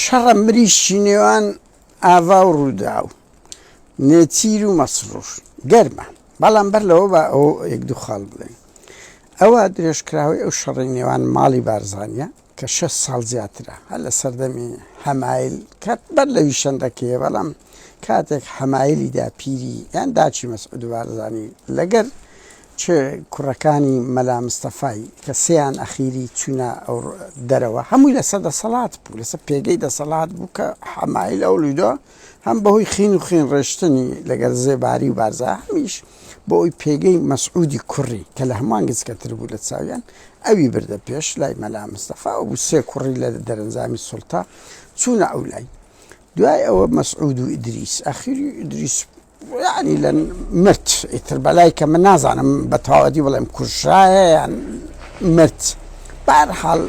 شەڕە مریشکی نێوان ئاڤا و رووداو، نێچیر و مەسرور گەرمە، بەڵام بەر لەوە با ئەوە یەک دوو خاڵ بڵێین. ئەوە درێژکراوەی ئەو شەڕەی نێوان ماڵی بارزانییە کە شەش ساڵ زیاترە، هەر لە سەردەمی حەمایل کە بەر لەویش شەندەکەیە، بەڵام کاتێک حەمایلی داپیری یان داکی مەسعود بارزانی لەگەر چ کوڕەکانی مەلا مستەفای کە سێیان ئەخیری چوونە دەرەوە هەمووی لەسەر دەسەڵات بوو لەسەر پێگەی دەسەڵات بوو کە حەمایل ئەوڵیدۆ هەم بەهۆی خین و خین ڕێشتنی لەگەر زێباری و بارزا هەمیش بۆ ئەوی پێگەی مەسعودی کوڕی کە لە هەمووان گچکەتر بوو لە چاویان ئەوی بردە پێش لای مەلا مستەفا و بوو سێ کوڕی لە دەرەنجامی سوڵتە چوونە ئەو لای دوای ئەوە مەسعود و ئیدریس ئەخیری ئیدریس یانی لە مرد ئیتر بەلای کە من نازانم بە تەواوەتی بڵێم کوژرایە یان مرد بارحاڵ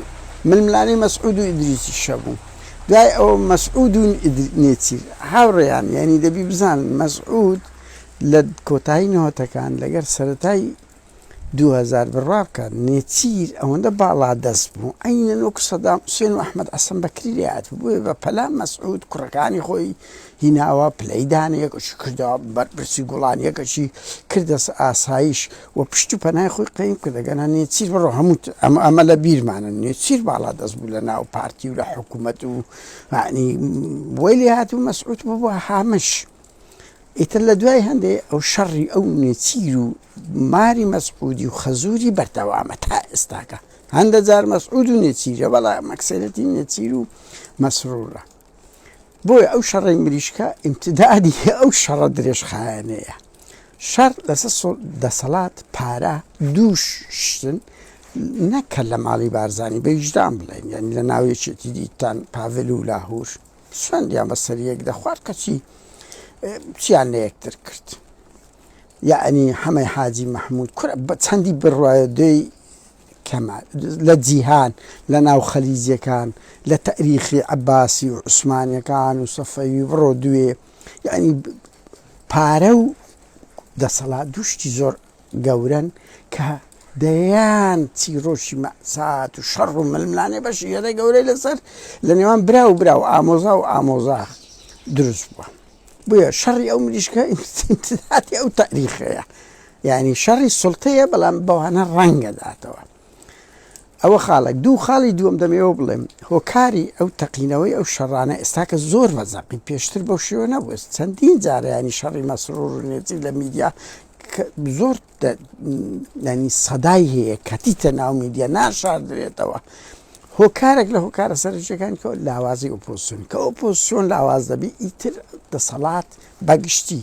ململانی مەسعود و ئیدریسی شەبوو دوای ئەو مەسعود و نێچیر هاوڕێیان یعنی دەبی بزان مەسعود لە کۆتایی نەوەتەکان لەگەر سەتای دوو هەزار بڕوا بکە نێچیر ئەوەندە باڵا دەست بوو عەینەن وەکو سەدام حوسێن و ئەحمەد عەسەن بەکری لێ هاتبوو بۆیە بە پەلا مەسعود کوڕەکانی خۆی هیناوە پلەی دانەیەکەشی کردەوە بەرپرسی گوڵانیەکەشی کردە ئاسایش و پشت و پەنای خۆی قەیم کرد ئەگەنا نێچیر بڕۆ هەموو ئەمە ئەمە لە بیرمانە نێچیر باڵا دەست بوو لە ناو پارتی و لە حکوومەت و عنی بۆی لێ هاتبوو مەسعود بوو بۆ هامش ئیتر لە دوای هەندێ ئەو شەڕی ئەو نێچیر و ماری مەسعودی و خەزوری بەردەوامە تا ئێستاکە هەندە جار مەسعود و نێچیرە بەڵا مەکسێنەتی نێچیر و مەسرورە بۆیە ئەو شەڕی مریشکە ئیمتدادی ئەو شەڕە درێژخایەنەیە شەر لەسەر دەسەڵات پارە دووش شتن نەکە لە ماڵی بارزانانی بەیشدان بڵێن یعنی لە ناوێکێتی دیتان پاڤل و لاهور سوێندیان بە سەریەک دەخوارد کەچی چیان لە یەکتر کرد یعنی حەمەی حاجی محمود کورە بە چەندی بڕایدەی کەمە لە جیهان لە ناو خەلیجەکان لە تەریخی عباسی و عوسمانەکان و سەفەوی بڕۆ دوێ یعنی پارە و دەسەڵات دوشتی زۆر گەورەن کە دەیان چیرۆکی مەئسات و شەڕ و ململانێ بەشی هێدە گەورەی لەسەر لە نێوان برا و برا و ئامۆزا و ئامۆزا دروست بووە بۆیە شەڕی ئەو مریشکە ئیمتداتی ئەو تاریخەیە یعنی شەڕی سڵتەیە بەڵام بەوانە ڕەنگە داتەوە ئەوە خاڵێک دوو خاڵی دووەم دەمەوێ بڵێم هۆکاری ئەو تەقینەوەی ئەو شەڕانە ئێستاکە زۆر مەزەقی پێشتر بەو شێوە نەبووە چەندین جارەیانی شەڕی مەسرور و نێزی لە میدیا زۆر ینی سەدای هەیە کەتیتە ناو میدیا ناشاردرێتەوە هۆکارێک لە هۆکارە سەرجەکان کە لاوازی ئۆپۆسیۆن کە ئۆپۆسیۆن لاواز دەبی ئیتر دەسەڵات بەگشتی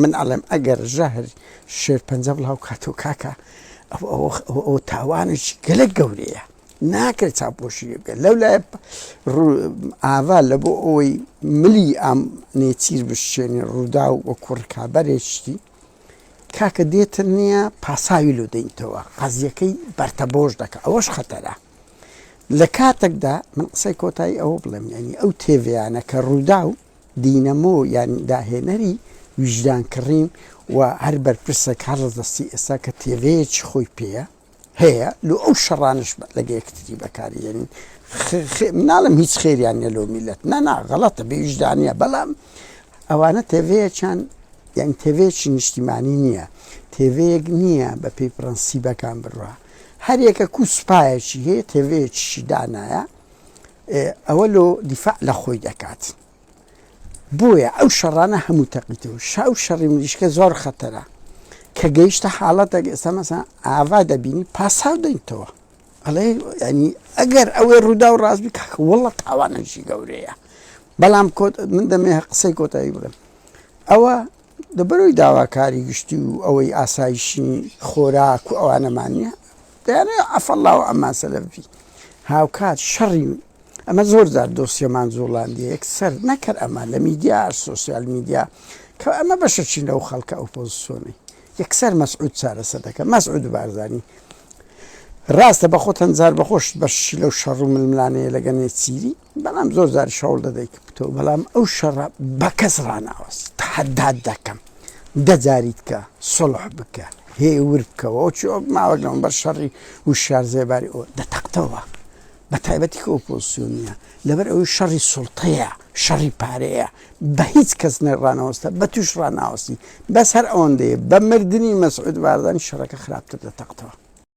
من ئەڵێم ئەگەر ژەهر شێرپەنجە بڵاو کاتەوە کاکە ئەوە تاوانێکی گەلە گەورەیە ناکرێت چاپۆشی لێ بکەن لەو لای ئاوا لە بۆ ئەوەی ملی ئەم نێچیر بشێنی ڕوودا و وەکو ڕکابەرێشتی کاکە دێتە نییە پاساوی لۆ دەینتەوە قەزیەکەی بەرتەبۆش دەکە ئەوەش خەتەرە لە کاتێکدا من قسەی کۆتایی ئەوە بڵێم ینی ئەو تێڤیانە کە ڕوودا و دینەمۆ یان داهێنەری ویژدان کڕین و هەر بەرپرسێک هەر ڕەدەستی ئێستا کە تێڤەیەکی خۆی پێیە هەیە لۆ ئەو شەڕانەش لەگە یەکتری بەکاری دێنین ناڵم هیچ خێریان نیە لۆ میلەت نەنا غەڵەتە بێ ویژدانە بەڵام ئەوانە تێڤەیەکیان یان تێڤەیەکی نیشتیمانی نییە تێڤەیەک نییە بە پێی پرەنسیبەکان بڕە هەریەکە کو سوپایەکی هەیە تێڤەیەکیشی دانایە ئێ ئەوە لۆ دیفاع لە خۆی دەکات بۆیە ئەو شەڕانە هەموو تەقیتە و شاو شەڕی مریشکە زۆر خەتەرە کە گەیشتە حاڵەتێک ئێستا مەسا ئاوا دەبینی پاساو دەینتەوە ئەڵێ ینی ئەگەر ئەوێ ڕوودا و ڕاستبی کاکە وڵە تاوانەژی گەورەیە بەڵام کۆت من دەمێ قسەی کۆتایی بڵێم ئەوە لەبەرەوەی داواکاری گشتی و ئەوەی ئاسایشی خۆراک و ئەوانەمان نیە دەیانەوێ عەفەڵڵا و عەممان سەلەف بی هاوکات شەڕی ئەمە زۆر جار دۆسیەمان جوڵاندیە یەکسەر نەکەر ئەمە لە میدیا سۆسیال میدیا کە ئەمە بەشەچین لەو خەڵکە ئۆپۆزسیۆنی یەکسەر مەسعود چارەسەر دەکە مەسعود بارزانی ڕاستە بە خۆتەن جار بەخۆشت بەشی لەو شەڕ و ململانەیە لەگە نێچیری بەڵام زۆر زاریش هەوڵ دەدەی کە بتەوە بەڵام ئەو شەڕە بە کەس ڕاناوەست تەحەدات دەکەم دە جاریت کە سڵح بکە هێور بکەوە ئەو چۆ ماوە لەم بەر شەڕی وشار زێباری ئەو دەتەقتەوە بە تایبەتی کە ئۆپۆسیۆنیە لەبەر ئەوی شەڕی سوڵتەیە شەڕی پارەیە بە هیچ کەس نەڕانەوەستە بە توش ڕناوەستی بەس هەر ئەوەندەیە بە مردنی مەسعود باردانی شەڕەکە خراپتر دەتەقتەوە